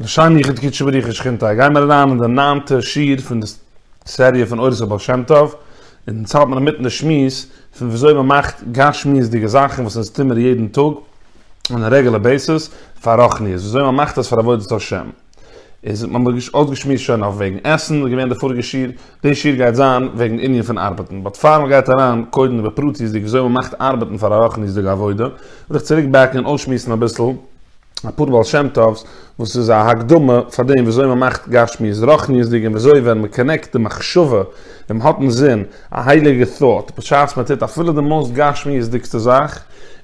לשם יחוד קדשו בריחו שכינתא, גייען מיר אריין אין די ניינטע שיעור פון די סעריע פון אורות הבעל שם טוב, און אונז האלט מיר אינמיטן די שמועס פון ווי אזוי מען מאכט גשמיות'דיגע זאכן וואס אונז טוהן מיר יעדן טאג אן א רעגולער בעיסעס פאר רוחניות, ווי אזוי מען מאכט עס פאר עבודת השם, איז האט מען אויסגעשמועסט שוין אויף וועגן עסן איז געווען די פאריגע שיעור, די שיעור גייט זיין וועגן ענין פון ארבעטן, באט פאר מען גייט אריין קודם בפרטיות'דיג ווי אזוי מען מאכט ארבעטן פאר א רוחניות'דיגע עבודה, וויל איך צוריק בעקן און אויסשמועסן אביסל. אפאר בעל שם טוב'ס וואס איז א הקדמה פאר דעם וויאזוי מען מאכט גשמיות רוחניות'דיג און וויאזוי ווען מען קאנעקט די מחשבה און מען האט אינזין א הייליגע thought בשעת מען טוט אפילו די מאוסט גשמיות'דיגסטע זאך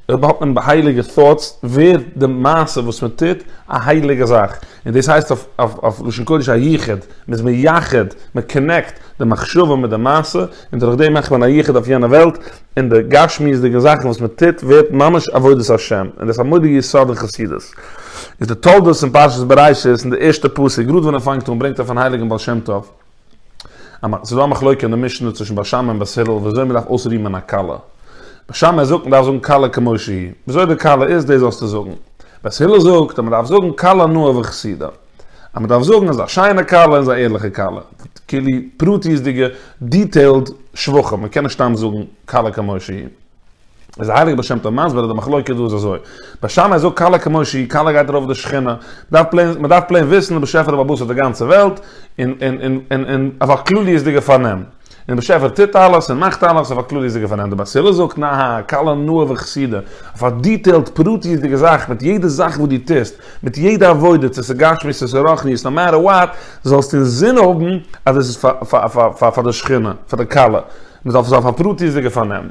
אויב האט מען הייליגע thoughts ווערט די מעשה וואס מען טוט א הייליגע זאך און דאס הייסט אויף לשון קודש א יחוד מען איז מייחד מען קאנעקט די מחשבה מיט די מעשה און דורך דעם מאכט מען א יחוד אויף יענע וועלט. אין די גשמיות'דיגע זאכן וואס מען טוט ווערט ממש עבודת השם, און דאס א מורא'דיגע יסוד אין חסידות איז די תולדות אין פרשת בראשית אין די ערשטע פסוק גראד ווען ער פאנגט אן ברענגט ער פון הייליגן בעל שם טוב אז ס'איז דא א מחלוקה אין די משנה צווישן בעל שם און בת הילל ווי אזוי מען דארף אויסרימען א כלה בעל שם ער זאגט מען דארף זאגן כלה כמו שהיא ווי אזוי די כלה איז דאס זאלסטו זאגן בת הילל זאגט אז מען דארף זאגן כלה נאה וכסידה. אז מ'דארף זאגן אז א שיינע כלה איז א ערליכע כלה, כאילו פרטיות'דיגע דיטעילד שבחים, מ'קען נישט סתם זאגן כלה כמו שהיא. איז הייליגער בעל שם טוב מסביר אז די מחלוקה דא איז אזוי, בעל שמאי זאגט כלה כמו שהיא, כלה גייט ארויף די שכינה, מ'דארף פלעין, מ'דארף פלעין וויסן די באשעפער האט באבוסעט די גאנצע וועלט, און, און, און, און, און, און אויף א כלליות'דיגע פארנעם. און באשעפער טוט אלעס און מאכט אלעס אויף א קלארהיזיגע פארנעם די בת הילל זאגט נהא קל על נאה וחסידה אויף א דיטעילד פרטיות'דיגע זאך מיט יעדע זאך וואס דו טוסט מיט יעדע עבודה צו ס'איז גשמי צו ס'איז רוחניות נאו מעטער וואט זאלסטו אינזין האבן אז עס איז פאר די שכינה פאר די כלה מ'דארף עס אויף א פרטיות'דיגע פארנעם.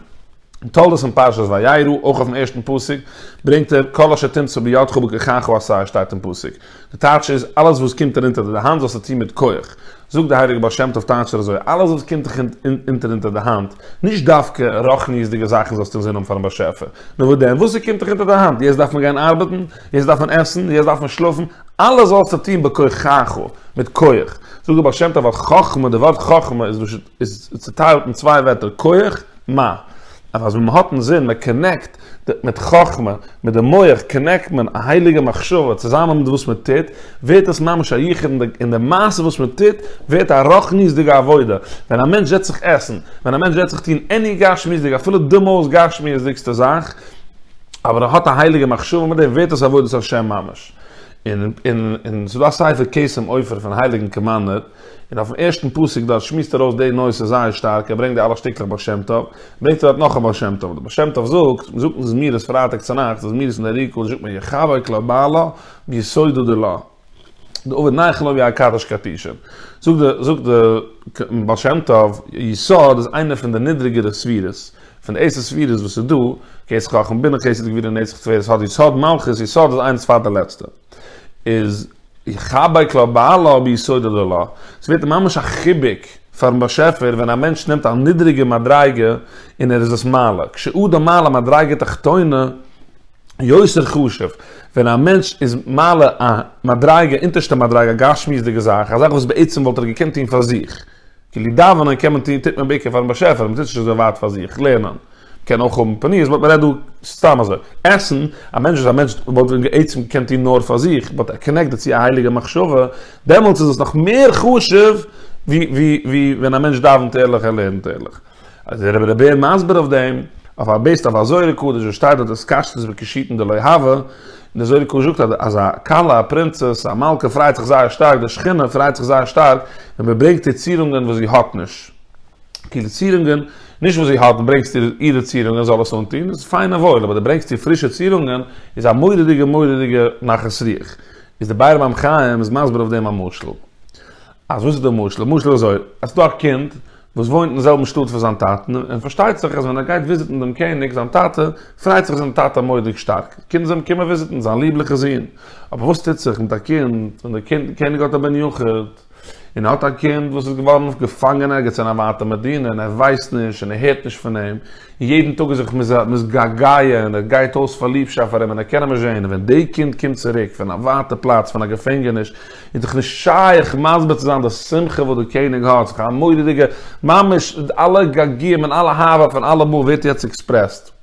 אין תולדות אין פרשת וירא, אויך אויפן ערשטן פסוק, ברענגט ער, כל אשר תמצא בידך ובכחך עשה, שטייט אין פסוק. די טייטש איז, אלעס וואס קומט דיר אונטער די האנט זאלסטו טון מיט כח. זאגט די הייליגע בעל שם טוב טייטשט ער אזוי, אלעס וואס קומט דיך אונטער אונטער די האנט, נישט דווקא רוחניות'דיגע זאכן זאלסטו אינזין האבן פארן באשעפער, נאר וואס דען, וואס ס'קומט דיך אונטער די האנט, יעצט דארף מען גיין ארבעטן, יעצט דארף מען עסן, יעצט דארף מען שלאפן, אלעס זאלסטו טון בכחך, מיט כח. זאגט די בעל שם טוב אז חכמה, די ווארט חכמה איז צוטיילט אין צוויי ווערטער, כח, מ אז אז ווען מען האט אינזין מען קאנעקט מיט חכמה מיט די מח קאנעקט מען א הייליגע מחשבה צוזאמען מיט וואס מען טוט ווערט עס ממש א יחוד אין די מעשה וואס מען טוט ווערט א רחניות'דיגע עבודה ווען א מענטש זעצט זיך עסן ווען א מענטש זעצט זיך טון עני גשמיות'דיג אפילו די מאוסט גשמיות'דיגסטע זאך אבער ער האט א הייליגע מחשבה מיט דעם ווערט עס עבודת השם ממש און און און ס'דא א ספר קסם עופר פון הייליגן קאמאנדער. און אויפן ערשטן פסוק דארט שמועסט ער אויס די נושא זייער שטארק, ער ברענגט די אלע שטיקלעך בעל שם טוב, ברענגט ער דארט נאך א בעל שם טוב, דער בעל שם טוב זאגט, מען זאגט אין זמירות פרייטאג צונאכטס, די זמירות אין די עריקא, זאגט מען יחבק לה בעלה ביסודו דלה, די עובד נייחן לו ווי א קדש קדשים, זאגט דער בעל שם טוב, יסוד איז איינע פון די נידריגערע ספירות, פון די עשר ספירות וואס איז דא, כסא חכם בינה חסד גבורה נצח תפארת האט יסוד מלכות, יסוד איז איינס פאר די לעצטע, איז. די חבק לו בעלה ביסודו דלא, ס'ווערט ממש א חיבוק פארן באשעפער ווען א מענטש נעמט א נידריגע מדריגה און ער איז עס מעלה, כשאדם מעלה מדריגה תחתונה יותר חשוב, ווען א מענטש איז מעלה א מדריגה, אונטערשטע מדריגה, א גשמיות'דיגע זאך, א זאך וואס בעצם וואלט ער געקענט טון פאר זיך. כלי דאווענען קען מען טוהן, טוט מען בעיקר פארן באשעפער, מען טוט עס נישט אזוי ווייט פאר זיך, לערנען קען אויך האבן פניות, באט מען רעדט דא סתם אזוי, עסן, א מענטש וואס א מענטש וואלט בעצם געקענט טוהן נאר פאר זיך, באט ער קאנעקט דערצו א הייליגע מחשבה, דעמאלטס איז עס נאך מער חשוב ווי ווי ווי ווען א מענטש דאווענט ערליך, ער לערנט ערליך. אז דער רבי בער מסביר אויף דעם, אויף א בעיסד אויף א זוהר הקדוש וואס שטייט דארט אז קשתות וקישוטין דלא הוה, און דער זוהר הקדוש זאגט אז א כלה א פרינצעס א מלכה פרייט זיך זייער שטארק די שכינה פרייט זיך זייער שטארק ווען מען ברענגט איר צירונגען וואס זי האט נישט, כאילו צירונגען נישט וואס זי האט און ברענגסט איר אירע צירונגען זאל עס אנטון איז פיין און וואויל אבער די ברענגסט איר פרישע צירונגען איז א מורא'דיגע מורא'דיגע נחת רוח, איז דער באר מים חיים איז מסביר אויף דעם א משל. אז וואס איז די משל? למשל אזוי, אז ס'דא א קינד וואס וואוינט אין זעלבן שטאט ווי זיין טאטן, און פארשטייט זיך אז ווען ער גייט וויזיטן דעם קעניג זיין טאטע, פרייט זיך זיין טאטע מורא'דיג שטארק די קינד זאלן קומען וויזיטן זיין ליבליכע זון. אבער וואס טוט זיך מיט א קינד ווען דער קעניג האט א בן יחיד, און ער האט א קינד וואס איז געווארן געפאנגען ערגעץ אין א ווייטע מדינה און ער ווייסט נישט און ער הערט נישט פון אים, און יעדן טאג איז זיך מתגעגע און ער גייט אויס פאר ליבשאפט פאר אים און ער קען אים נישט זען, און ווען די קינד קומט צוריק פון א ווייטע פלאץ פון א געפענגעניש איז דאך נישט שייך מסביר צו זיין די שמחה וואס דער קעניג האט, ס'איז א מורא'דיגע, ממש אלע געגועים און אלע אהבה פון אלעמאל ווערט יעצט עקספרעסד.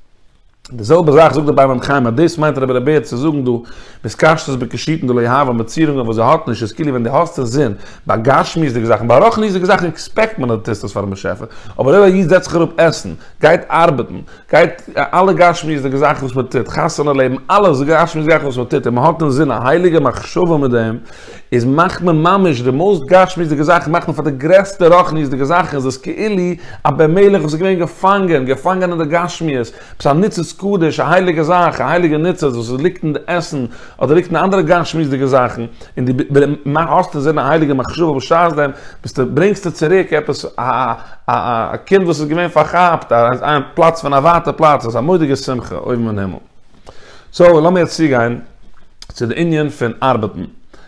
די זעלבע זאך זאגט דער ביי מים חיים אז דאס מיינט רבי ר' בער צו זאגן דא וואס קשת בקשתן דלא יהבן מיט צירונגען וואס זי האט נישט איז כאילו ווען דו האסט אין זין ביי גשמיות'דיגע זאכן ביי רוחניות'דיגע זאכן עקספעקט מען אז דו טוסט עס פארן באשעפער אבער אויב א איד זעצט זיך אראפ עסן, גייט ארבעטן, גייט אלע גשמיות'דיגע זאכן וואס מען טוט, חתונה לעבן, אלעס גשמיות זאכן וואס מען טוט און מען האט אינזין א הייליגע מחשבה מיט דעם, איז מאכט מען ממש די מאוסט גשמיות'דיגע זאכן מאכט מען פאר די גרעסטע רוחניות'דיגע זאכן, איז עס כאילו א בן מלך וואס איז געווען געפאנגען, געפאנגען אין די גשמיות, עפעס א ניצוץ קדוש, א הייליגע זאך, א הייליגע ניצוץ וואס עס ליגט אין די עסן, אדער ליגט אין אנדערע גשמיות'דיגע זאכן, און דו האסט אין זין א הייליגע מחשבה בשעת דעם, ביסטו, ברענגסטו צוריק עפעס א א א א קינד וואס איז געווען פארכאפט, א א פלאץ פון א ווייטע פלאץ, איז א מודיגע שמחה אויבן אין הימל. סאו לאמיר יעצט צוגיין צו די ענין פון ארבעטן.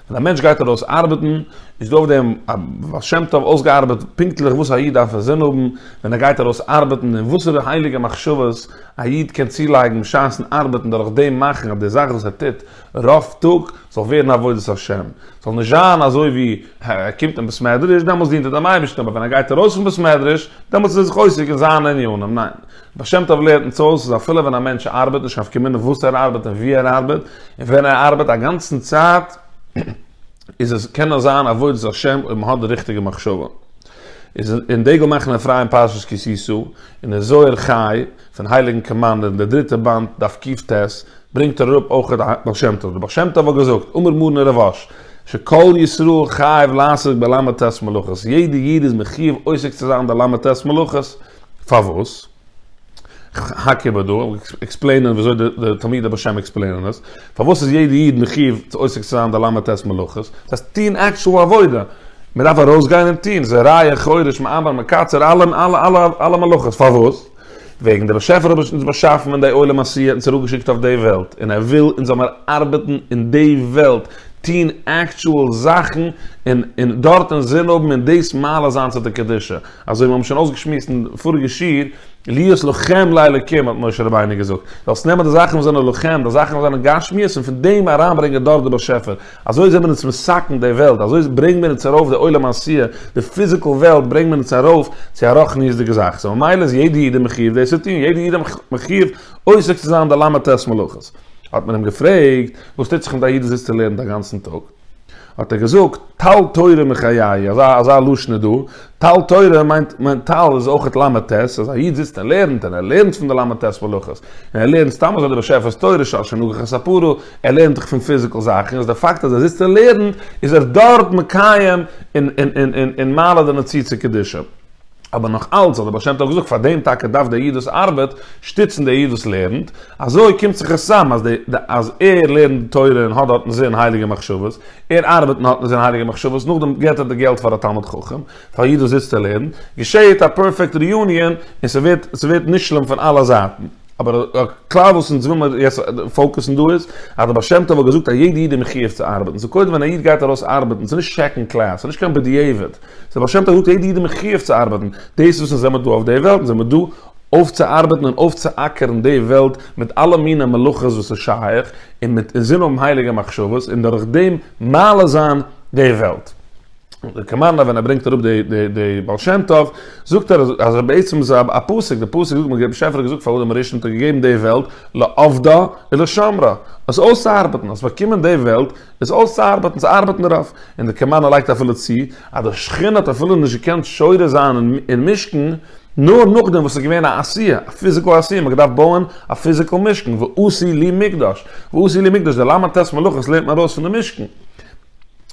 ווען א מענטש גייט ארויס ארבעטן, איז דא אויף דעם א בעל שם טוב אויסגעארבעט פונקטליך וואס א איד דארף אין זין האבן ווען ער גייט ארויס ארבעטן, און וואסערע הייליגע מחשבות, א איד קען צולייגן בשעת'ן ארבעטן דורך דעם מאכן אז די זאך וואס ער טוט רוב טאג זאל ווערן עבודת השם, זאל נישט זיין אזוי ווי ער קומט אין בית מדרש דעמאלטס דינט ער דעם אייבערשטן אבער ווען ער גייט ארויס פון בית מדרש דעמאלטס איז ער זיך עוסק אין זיינע ענינים, ניין, בעל שם טוב לערנט אונז אויס אז אפילו ווען א מענטש ארבעט נישט אויף קומען און וואס ער ארבעט און ווי ער ארבעט און ווען ער ארבעט א גאנצן צייט איז עס קען עס זיין עבודת השם אויב מען האט די ריכטיגע מחשבה. איז אין דגל מאכן אפרים פרשת כי תשא. אין דער זוהר חי, פון הייליגן קאמאנדער אין דער דריטער באנד, דף קיט ט, ברענגט ער אראפ אויך א בעל שם טוב. דער בעל שם טוב האט געזאגט, אמר מרן רבש ע שכל ישראל חייב לעסוק בלמ ט מלאכות, יעדער איד איז מחיוב עוסק צו זיין אין די למ ט מלאכות. פארוואס? כ'האק איבער דא, עקספלעינען וויאזוי די תלמידי בעל שם עקספלעינען עס. פארוואס איז יעדע איד מחיוב צו עוסק צו זיין די ל' ט' מלאכות? דאס הייסט טוהן עקטשועל עבודה. מען דארף ארויסגיין און טוהן זרעיה, חורש, מעבר, מקצר, אלע אלע אלע אלע מלאכות. פארוואס? וועגן דער באשעפער האט אונז באשאפן אין די עולם עשי' אונז אראפגעשיקט אויף די וועלט און ער וויל אונז זאל מיר ארבעטן אין די וועלט, טוהן עקטשועל זאכן און און דארט אינזין האבן און דאס מעלה זיין צו די קדושה. אזוי ווי מיר האבן שוין אויסגעשמועסט אין פאריגע שיעור, להיות לוחם לאלוקים האט משה רבינו געזאגט, זאלסט נעמען די זאכן וואס זענען לוחם, די זאכן וואס זענען גשמיות און פון דעם אריינברענגען דארט די באשעפער, אזוי זענען אונז מסכן די וועלט, אזוי ברענגט מען אונז ארויף די עולם העשיה, די פיזיקעל וועלט ברענגט מען אונז ארויף צו א רוחניות'דיגע זאך, סאו ממילא איז יעדע איד מחיוב דאס צו טון, יעדע איד מחיוב עוסק צו זיין די ל' ט' מלאכות. האט מען אים געפרעגט, וואס טוט זיך מיט א איד וואס זיצט און לערנט א גאנצן טאג? האט ער געזאגט, טל תורה מחיי, אזא אזא לשון איז דא, טל תורה מיינט מיינט טל איז אויך למ ט, אז א איד זיצט און לערנט און ער לערנט פון די למ ט'ס מלאכות, און ער לערנט סתם אזוי די באשעפער'ס תורה שעל שנגח את ספרו, ער לערנט דאך פון פיזיקעל זאכן, איז די פאקט אז ער זיצט און לערנט, איז ער דארט מקיים און און און און מעלה די מציצה קדישא. אבער נאך אלץ האט דער בעל שם טוב געזאגט פאר דעם טאקע דארף דער איד וואס ארבעט שטיצן דער איד וואס לערנט, אזוי קומט זיך עס צאם אז אז ער לערנט די תורה און האט דארטן זען הייליגע מחשבות, ער ארבעט און האט נישט זען הייליגע מחשבות, נאכדעם געבט ער די געלט פאר א תלמיד חכם, פאר א איד וואס זיצט און לערנט, געשעהט א פערפעקט ריאוניען און ס'ווערט ס'ווערט נשלם פון אלע זייטן. אבער א כלל וואס אונז וויל מיר יעצט פאוקוסן דא איז, אז דער בעל שם טוב האט געזאגט אז יעדע איד איז מחויב צו ארבעטן, סאו קודם ווען א איד גייט ארויס ארבעטן, ס'איז נישט סעקאנד קלעס, ס'איז נישט קיין בדיעבד, דער בעל שם טוב רופט יעדע איד אין מחיוב צו ארבייטן, דאס וואס אונז זעמיר דא אויף די וועלט, זעמיר דא אויפצוארבייטן און אויפצואקערן די וועלט מיט אלע מיני מלאכות וואס איז שייך, און מיט אינזין האבן הייליגע מחשבות, און דורך דעם מעלה זיין די וועלט. דער קאמארנא ווען ער ברענגט אראפ די די די בעל שם טוב, זאגט ער אז בעצם איז א פסוק, די פסוק זאגט דער באשעפער האט געזאגט פאר אדם הראשון האט ער געגעבן די וועלט לעובדה ולשומרה, עס אויסצוארבייטן, עס באקומען די וועלט, עס אויסצוארבעטן, צו ארבעטן דערויף, און דער קעמאן האט לייגט אפילו צו, אז דער שכן האט אפילו נישט געקענט שורה זיין אין משכן, נאר נאכדעם וואס עס איז געווען א עשיה, א פיזיקעל עשיה, מען האט געדארפט בויען א פיזיקעל משכן, ועשי לי מקדש, ועשי לי מקדש, די למה ט' מלאכות לערנט מען ארויס פון די משכן.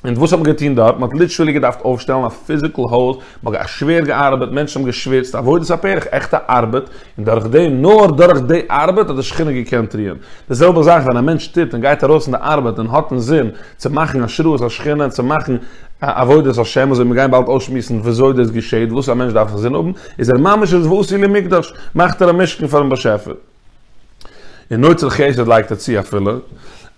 און וואס האט מען געטון דארט? מען האט ליטערלי געדארפט אויפשטעלן א פיזיקעל הויז, מען האט שווער געארבעט, מענטשן האבן געשוויצט, עבודת הפרך, עכטע ארבעט, און דורך די, נאר דורך די ארבעט האט די שכינה געקענט רוען. די זעלבע זאך ווען א מענטש טוט און גייט ארויס אין די ארבעט און האט אינזין צו מאכן השראת השכינה און צו מאכן עבודת השם אזוי מיר גייען באלד אויסשמועסן וויאזוי דאס געשעהט וואס א מענטש דארף אינזין האבן איז ער ממש איז ועשי לי מקדש מאכט ער א משכן פארן באשעפער און אוצר חסד לייגט ער צו אפילו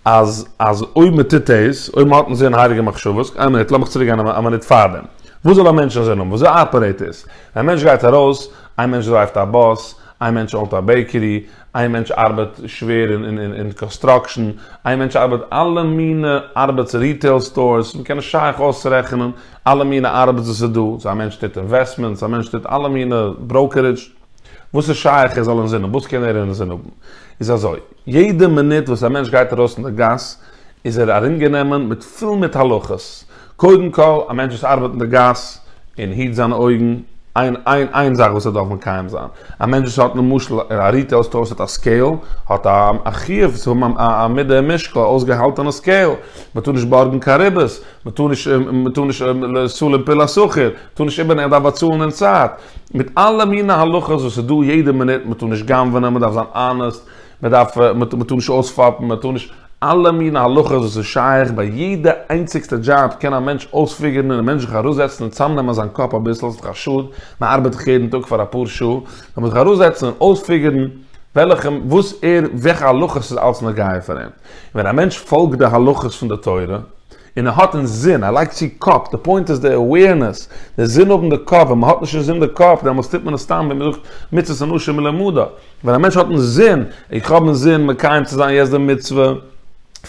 אז אז אויב מען טוט דאס אויב מען האט אינזין הייליגע מחשבות איין מינוט לאמיך צוריקגיין א מינוט פארדעם וואס זאל א מענטש אינזין האבן וויאזוי אפערעיט עס ווען א מענטש גייט ארויס איין מענטש דרייווט א באס, איין מענטש אונט א בעיקערי, איין מענטש ארבעט שווער אין קאנסטראקשען, איין מענטש ארבעט אלע מינע ארבעטס ריטעיל סטארס, מען קען נישט שייך אויסרעכענען אלע מינע ארבעטס וואס איז דא, א מענטש טוט אינוועסטמענטס, א מענטש טוט אלע מינע בראוקערידזש, וואס איז שייך ער זאל אינזין האבן, וואס קען ער אינזין האבן? איז אזוי, יעדע מינוט וואס א מענטש גייט ארויס אין די גאס איז ער ארומגענומען מיט פול מיט הלכות, קודם כל, א מענטש וואס ארבעט אין די גאס, און היט זיינע אויגן, איין איין איין זאך וואס ער דארף מקיים זיין. א מענטש וואס האט למשל א ריטעיל סטאר וואס האט א סקעיל, האט א א חיוב צו האבן א א מידה און משקל, א אויסגעהאלטענע סקעיל. מען טאר נישט בארגן קיין ריבית, מען טאר נישט מען טאר נישט לעשו למפי לשכיר, מען טאר נישט איבערנעמען, מען דארף באצאלן אין צייט. מיט אלע מיני הלכות וואס איז דא יעדע מינוט, מען טאר נישט גנב'ענען, מען דארף זיין אנעסט. מען דארף, מען טאר נישט אויספאפן, מען טאר נישט, אלע מינע הלכות וואס איז שייך ביי יעדע איינציגסטע דזשאב קען א מענטש אויספיגערן און א מענטש זיך ארויסזעצן און צאמנעמען זיין קאפ אביסל ס'איז דאך א שאד, מען ארבעט דאך יעדן טאג פאר אפאר שעה, זאל מען זיך ארויסזעצן און אויספיגערן וועלכע, וואס ער, וועלכע הלכות איז אלץ נוגע פאר אים, און ווען א מענטש פאלגט די הלכות פון די תורה, און ער האט אינזין, ער לייגט צו קאפ, די פוינט איז די אוועירנעס, די זין האבן די קאפ, ווען מען האט נישט אינזין די קאפ, דעמאלטס טוט מען עס סתם ווי מען זאגט מצות אנשים מלומדה, ווען א מענטש האט אינזין, איך האב אינזין מקיים צו זיין יעצט די מצוה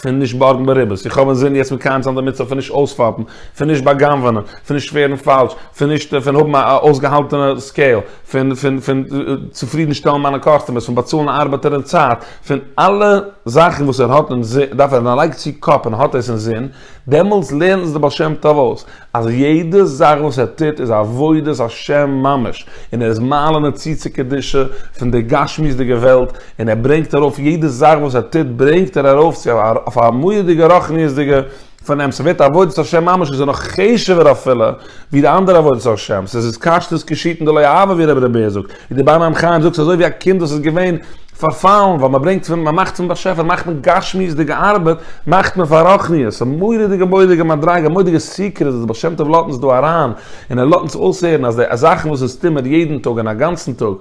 פון נישט בארגן בריוועס, איך האב אינזין יעצט מקיים צו זיין די מצוה פון נישט אויספאפן, פון נישט בא'גנב'ענען, פון נישט ווערן פאלש, פון נישט פון האבן א אויסגעהאלטענע סקעיל, פון פון פון צופרידן שטעלן מיינע קאסטומערס, פון באצאלן ארבייטער אין צייט, פון אלע זאכן וואס ער האט אין זין, דארף ער ווען ער לייגט צו קאפ און האט עס אין זין, דעמאלטס לערנט עס דער בעל שם טוב אויס, אז יעדע זאך וואס ער טוט איז עבודת השם ממש, און ער איז מעלה נוציא צו קדושה פון די גשמיות'דיגע וועלט, און ער ברענגט ארויף יעדע זאך וואס ער טוט ברענגט ער ארויף צו אויף א מורא'דיגע רוחניות'דיגע. פונעם ס'ווערט עבודת השם ממש איז ער נאך חשוב'ער אפילו ווי די אנדערע עבודת השם, ס'איז התקשטות קשתן דלא אהבה ווי רבי ר' בער זאגט, ווי די באר מים חיים זאגט ס'איז אזוי ווי א קינד וואס איז געווען פארפאלן ווייל מ'ברענגט פון מ'מאכט פון באשעפער מאכט מען גשמיות'דיגע ארבעט מאכט מען פאר רוחניות, א מורא'דיגע מורא'דיגע מדריגה א מורא'דיגע סיקרעט וואס די בעל שם טוב לאזט אונז דא אריין און ער לאזט אונז אויסהערן אז די זאכן וואס אונז טוהן מיר יעדן טאג און א גאנצן טאג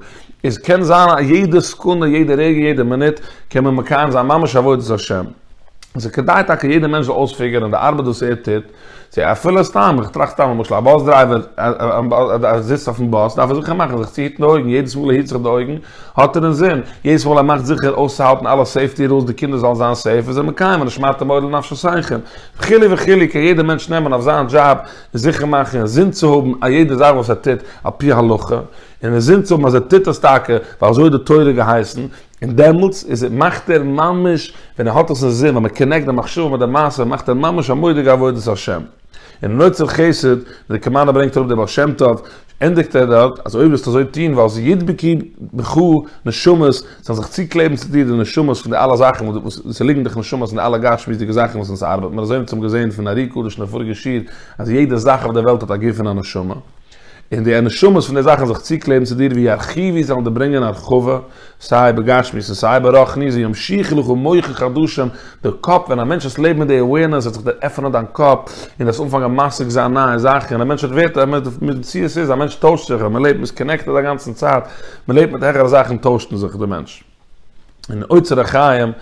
איז קען זיין א יעדע סעקונדע יעדע רגע יעדע מינוט קען מען מקיים זיין ממש עבודת השם. עס איז כדאי טאקע יעדער מענטש זאל אויספיגערן די ארבעט וואס ער טוט, צו אפילו סתם, איך טראכט סתם למשל א באס דרייווער אז ער זיצט אויפן באס דארף ער זיכער מאכן זיך צו היטן די אויגן, יעדעס מאל ער היט זיך די אויגן האט ער אינזין, יעדעס מאל ער מאכט זיכער אויסצוהאלטן אלע סעיפטי רולס די קינדער זאלן זיין סעיף איז ער מקיים ונשמרתם מאד לנפשותיכם וכו' וכו', קען יעדער מענטש נעמען אויף זיין דזשאב און זיכער מאכן אינזין צו האבן א יעדע זאך וואס ער טוט על פי הלכה, און אינזין צו האבן אז ער טוט עס טאקע ווייל אזוי האט די תורה געהייסן, און דעמאלטס איז ער, מאכט ער ממש, ווען ער האט עס אין זין, ווען מען קאנעקט די מחשבה מיט די מעשה, מאכט ער ממש א מודי'גע עבודת השם. און אין אוצר חסד, ווי די קאמאנדע ברענגט אראפ דער בעל שם טוב, ענדיגט ער דארט, אז אויב וועסטו אזוי טון, וועל זיך ידבקו בך נשמות, זאלן זיך צוקלעבן צו דיר די נשמות פון די אלע זאכן וואס עס ליגן דיך נשמות אין די אלע גשמיות'דיגע זאכן וואס אונז ארבעט מיר אזוי אונז האבן געזען פון ארי קדוש אין די פאריגע שיעור אז יעדע זאך אויף דער וועלט האט א גוף און א נשמה, און די נשמות פון די זאכן זיך צוקלעבן צו דיר ווי ארכיווי זאלן דיר ברענגען הרחבה סיי בגשמיות און סיי ברחניות ווי ים שיך לך מוחך הדשם די קאפ ווען א מענטש וועסט לעבן מיט די awareness וועט זיך דיר עפענען דיין קאפ און וועסט אנפאנגען משיג זיין נייע זאכן און א מענטש ווערט א מציאות איז א מענטש טוישט זיך אז מען לעבט מען איז קאנעקטעד א גאנצן צייט מען לעבט מיט העכערע זאכן טוישט מען זיך די מענטש. אין אוצר החיים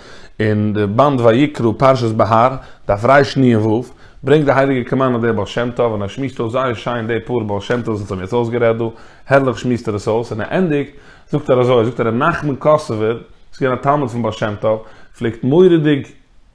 אין די באנד ויקרא פרשת בהר דף רש ני עמ' ו' ברענגט די הייליגע קאמארנא דער בעל שם טוב און ער שמועסט אויס זייער שיין די פאר בעל שם טוב'ס וואס האבן יעצט אויסגערעדט דא, הערליך שמועסט ער עס אויס און ער ענדיגט זאגט ער אזוי זאגט ער ר' נחמן קאסובער וואס איז געווען א תלמיד פון בעל שם טוב פלעגט מורא'דיג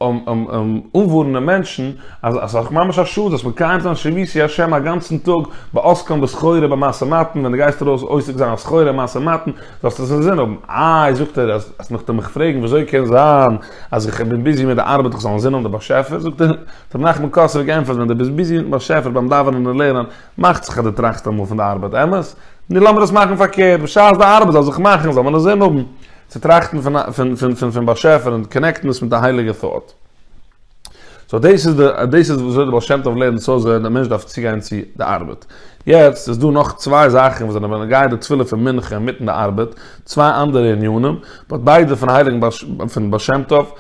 אנווארענען מענטשן אז עס איז ממש א שאד זאלסט מקיים זיין שביתי השם א גאנצן טאג בעוסקם בסחורה במעשה מתן ווען דו גייסט ארויס עוסק זיין אין סחורה אין מעשה מתן זאלסטו עס אינזין האבן, איי זאגט ער אז מען האט מיך געפרעגט ווי אזוי קען זיין אז איך בין ביזי מיט די ארבעט איך זאל אינזין האבן די באשעפער זאגט ער האט רבי נחמן קאסאווע גענטפערט ווען דו ביזט ביזי מיטן באשעפער ביים דאווענען און לערנען מאכט זיך אז דו טראכסט אמאל פון די ארבעט אמת? נו לאמיר עס מאכן פארקערט בשעת די ארבעט זאל זיך מאכן זאל מען אינזין האבן צו טראכטן פון פון פון פון פון באשעפער און קאנעקטן עס מיט א הייליגע thought. סאו דאס איז די דאס איז וויאזוי די בעל שם טוב לערנט סאו אזוי די מענטש דארף צוגיין צו די ארבעט. יעצט איז דא נאך צוויי זאכן וואס זענען בנוגע די תפילה פון מנחה אינמיטן די ארבעט, צוויי אנדערע ענינים, באט ביידע פון הייליגן בעל ש פון בעל שם טוב,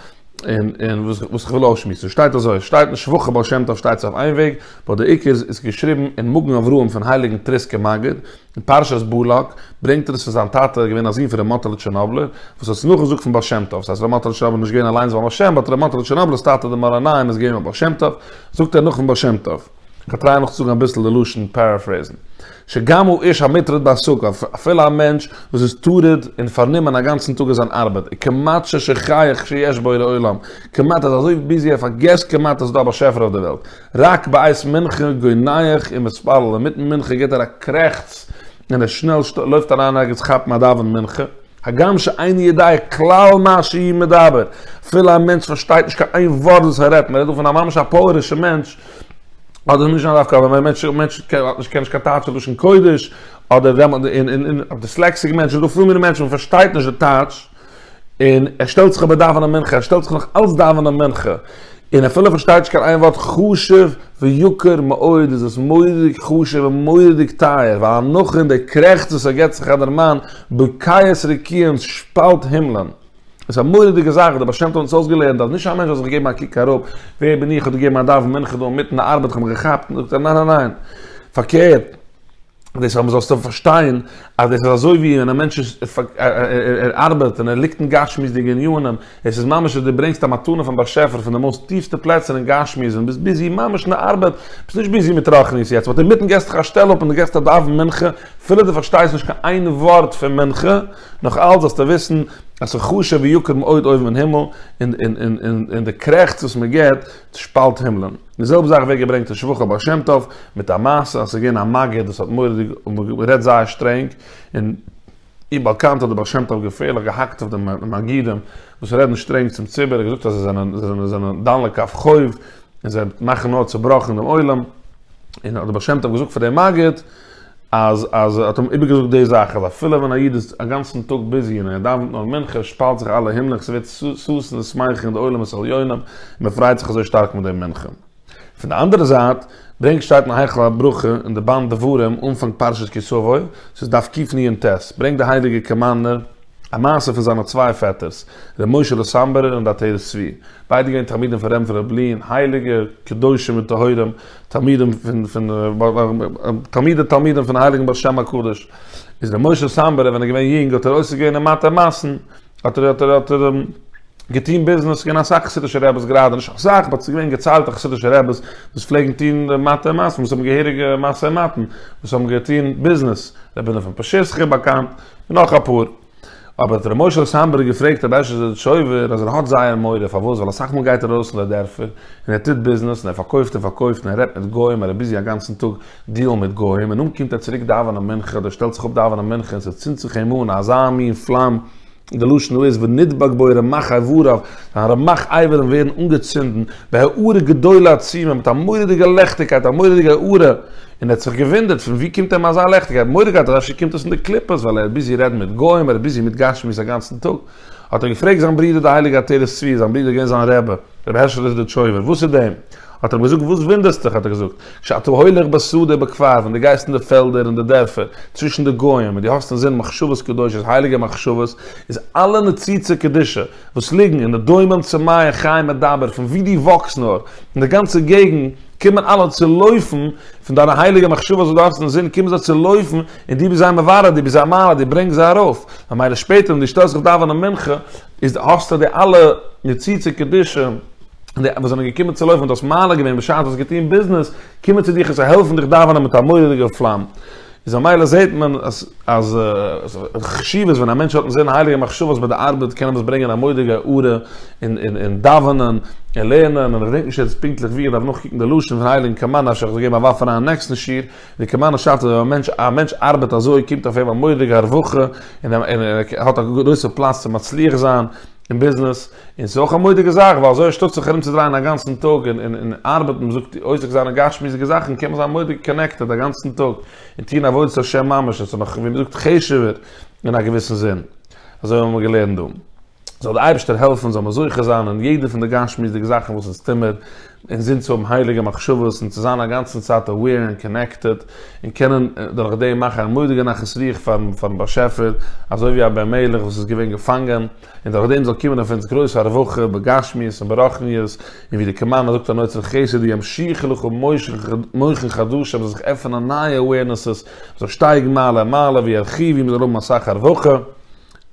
און און וואס איך וואס איך וויל אויסשמועסן. שטייט אזוי, שטייט אין שבחי בעל שם טוב שטייט עס אויף איין וועג, באט די עיקר איז געשריבן אין מגן אברהם פון הייליגן טריסקער מגיד, אין פרשת בלק ברענגט ער עס פון זיין טאטע ער איז געווען א זון פון ר' מאטעלע טשערנאבלער וואס האט עס נאכגעזאגט פון בעל שם טוב ס'הייסט ר' מאטעלע טשערנאבלער איז נישט געווען אליינס ביים בעל שם באט ר' מאטעלע טשערנאבלער'ס טאטע דער מאור עיניים איז געווען ביים בעל שם טוב זאגט ער נאך פון בעל שם טוב. כ'טריי נאך צו זאגן אביסל די לשון פעראפרעיזן. שגם הוא איש המטרוד בעסקיו, אפילו א מענטש וואס איז טרוד און פארנומען אגאנצן טאג אין זיין ארבעט, איז כמעט ששכח שיש בורא עולם, כמעט ער איז אזוי ביזי ער פארגעסט כמעט אז ס'איז דא א באשעפער אויף דער וועלט, רק בעת מנחה גוי נייעך און מתפלל אינמיטן מנחה גיט ער א קרעכץ און ער שנעל לויפט אריין ערגעץ כאפן א דאווען מנחה, הגם שאין ידיעה כלל מה שהיא מדבר, אפילו א מענטש פארשטייט נישט קיין איין ווארט וואס ער רעדט, מען רעדט דא פון א ממש א פויערישע מענטש, אדער נישט לאו דווקא אבער א מענטש וואס קען נישט קיין טייטשע לשון קודש, אדער דיסלעקסיק מענטש, ס'דא פיל מינע מענטשן וואס פארשטייט נישט די טייטש. און ער שטעלט זיך אבער דאווענען מנחה, ער שטעלט זיך נאך אלץ דאווענען מנחה, און אפילו ער פארשטייט נישט קיין איין ווארט, חשוב ויקר מאוד איז עס מורא'דיג חשוב און מורא'דיג טייער, ווייל הנחה און דער קרעכץ וואס ער געבט זיך אט דער מאן, בקעת רקיענס שפאלט הימלען. עס איז א מורא'דיגע זאך, דער בעל שם טוב האט אונז אויסגעלערנט אז נישט א מענטש זאל זיך געבן א קוק אראפ, ווער בין איך, איך האב דיר געגעבן א דאווען מנחה דא אינמיטן די ארבעט, איך האב מיך געכאפט, זאגט ער ניין ניין ניין, פארקערט, דאס אבער זאלסטו פארשטיין אז דאס איז אזוי ווי ווען א מענטש איז ער ארבעט און ער ליגט אין גשמיות'דיגע עניינים, עס איז ממש ווי דו ברענגסט א מתנה פון באשעפער פון די מאוסט טיפסטע פלעצער אין גשמיות און ביסט ביזי ממש אין די ארבעט, ביסט נישט ביזי מיט רוחניות יעצט, באט אינמיטן געסטו דיך א שטעל אפ און דו גייסט א דאווען מנחה, אפילו דו פארשטייסט נישט קיין איין ווארט פון מנחה, נאך אלץ זאלסטו וויסן אז ס'איז חשוב ויקר מאוד אויבן אין הימל, און די קרעכץ וואס מען געבט שפאלט הימלען. די זעלבע זאך ווערט געברענגט אין שבחי הבעל שם טוב, מיט א מעשה אז ס'איז געווען א מגיד וואס האט מורא'דיג גערעדט זייער שטרענג, און אי באלקאנט האט דער בעל שם טוב געפערליך געהאקט אויף די מגידים וואס רעדן שטרענג צום ציבור, ער האט געזאגט אז זיי זענען זיי זענען דן לכף חוב, און זיי מאכן נאר צעבראך אין דעם עולם, און האט דער בעל שם טוב געזאגט פאר דעם מגיד. אז אז ער האט אים איבערגעזאגט די זאך אז אפילו ווען א איד איז אגאנצן טאג ביזי און ער דאווענט נאר מנחה שפאלט זיך אלע הימלעך ס'ווערט ששון און שמייכל אין די עולמות עליונים און מען פריידט זיך אזוי שטארק מיט די מנחה. פון די אנדערע זייט ברענגט שטייט אין היכל הברכה אין די באנד דברים אנפאנג פרשת כי תבוא ס'איז דף קיף ני' אין ט' ברענגט די הייליגע קאמארנער א מעשה פון זיינע צוויי פעטערס ר' משה'לע סאמבערער און די עטרת צבי ביידע געווען תלמידים פון רמ פ ר' בלין הייליגע קדושים וטהורים תלמידים פון פון תלמידי תלמידים פון הייליגן בעל שם הקדוש איז דער משה סאמברער ווען ער געווען יונג האט ער עוסק געווען אין מטה מאסן האט ער האט ער האט ער געטון ביזנעס געווען אסאך חסידישע רעבעס גראדע נישט אסאך באט ס'איז געווען געציילטע חסידישע רעבעס וואס פלעגן טון די מטה מאסן וואס האבן געהעריגע מעשי מתן וואס האבן געטון ביזנעס רבי נתן פשיסחי באקאנט און נאך אפאר. אבער האט ר' משה'לע סאמברג געפרעגט ר' אשר זשויווער אז ער האט זייער מורא פארוואס ווייל אסאך מאל גייט ער ארויס אין די דערפער און ער טוט ביזנעס און ער פארקויפט און פארקויפט און ער רעדט מיט גוים און ער איז ביזי אגאנצן טאג דיעלן מיט גוים און נאכדעם קומט ער צוריק דאווענען מנחה אדער שטעלט זיך אפ דאווענען מנחה און ס'צינדט זיך אים אן אזא מין פלאם די לשון דא איז ונדבק בו רמח אייבריו זיין רמח אייברים ווערן אנגעצינדן בהארה גדולה עצומה מיט א מורא'דיגע לעכטיגקייט א מורא'דיגע הארה און ער האט זיך געוואונדערט פון וואו קומט אים אזא לעכטיגקייט, מורא געהאט אז אפשר קומט עס פון די קליפות, ווייל ער איז ביזי רעדן מיט גוים, ער איז ביזי מיט גשמיות א גאנצן טאג, האט ער געפרעגט זיין ברודער די הייליגע עטרת צבי, זיין ברודער איז געווען זיין רבי, רבי הערשעלע זידיטשויבער, וואס איז דעם? האט ער אים געזאגט, וואס וואונדערסטוך, האט ער געזאגט, כשאתה הולך בשדה ובכפר, ווען דו גייסט אין די פעלדער און די דערפער, צווישן די גוים, און דו האסט אינזין מחשבות קדושות, הייליגע מחשבות, איז אלע נציצה קדישא, וואס ליגן אין די דומם צו מי חי מדבר פון ווי דו וואקסט נאר אין די גאנצע געגנט קומען אלע צו לויפן פון דיינע הייליגע מחשבות וואס דו האסט אין זין קומען זיי צו לויפן און דו ביסט זיי מברר דו ביסט זייער מעלה דו ברענגסט זיי ארויף ממילא שפעטער ווען דו שטעלסט זיך דאווענען מנחה איז האסטו די אלע ניצוצי קדושה און די וואס זענען געקומען צו לויפן און דו האסט מעלה געווען בשעת דו האסט געטון ביזנעס קומען צו דיך און זיי העלפן דיך דאווענען מיט א מורא'דיגע פלאם איז ממילא זעהט מען אז אז חשיבות ווען א מענטש האט אין זעהן הייליגע מחשבות ביי די ארבעט קען עפעס ברענגען א מודיגע הארה אין אין אין דאווענען און לערנען און איך געדענק נישט יעצט פונקטליך ווי איך דארף נאכקוקן די לשון פון הייליגן קאמארנא אפשר איך זאל געבן א ווארף אריין אין נעקסטן שיעור ווי קאמארנא שרייבט אז ווען א מענטש א מענטש ארבעט אזוי קומט אויף אים א מודיגע הרווחה און ער האט א גרויסע פלאץ צו מצליח זיין אין ביזנעס, און ס'איז אויך א מודיגע זאך, ווייל אזוי אנשטאט זיך ארומצודרייען א גאנצן טאג און און ארבעטן, מ'זאגט אויסער זיינע גשמיות'דיגע זאכן, קען מען זיין מודיג קאנעקטעד א גאנצן טאג, און טון עבודת השם ממש, עס איז נאך ווי מ'זאגט חשוב'ער אין א געוויסן זין, אזוי האבן מיר געלערנט דא. זאל די אייבערשטער העלפן זאל מען זוכה זיין אין יעדע פון די גשמיות'דיגע זאכן וואס אונז טוהמער, און זינט צו האבן הייליגע מחשבות און צו זיין אגאנצן צייט aware און קאנעקטעד, און קענען דורך דעם מאכן א מודיגע נחת רוח פארן באשעפער, אזוי ווי אבער מלך וואס איז געווען געפאנגען, און דורך דעם זאל קומען אויף אונז גרויס הרווחה בגשמיות און ברחניות, און ווי די קאמאנדע זאגט אן אוצר חסד ימשיך לך ומוחין חדשים זאל זיך עפענען נייע awarenesses, מען זאל שטייגן מעלה און מעלה ווי ארכיוו ווי מען זאל האבן אסאך הרווחה.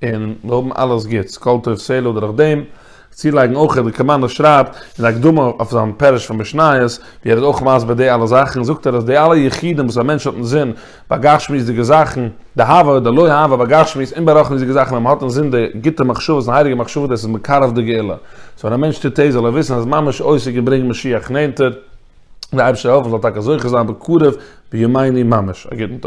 און מיר האבן אלעס גוטס, כל טוב סלה אדער אויף דעם צולייגן אויך ווי דער קאמאנדער שרייבט אין די הקדמה אויף זיין פרש פון משניות ווי ער איז אויך מסביר די אלע זאכן זאגט ער אז די אלע יחידים וואס א מענטש האט אינזין ביי גשמיות'דיגע זאכן די הווה די לא הווה ביי גשמיות און ביי רוחניות'דיגע זאכן ווען מען האט אינזין די גוטע מחשבות און הייליגע מחשבות דאס איז מקרב די גאולה סאו ווען א מענטש טוט דאס זאל ער וויסן אז ממש עוסק אין ברענגן משיח נענטער, די אייבערשטער העלפן זאל טאקע זוכה זיין בקרוב בימינו ממש. א גוטן טאג.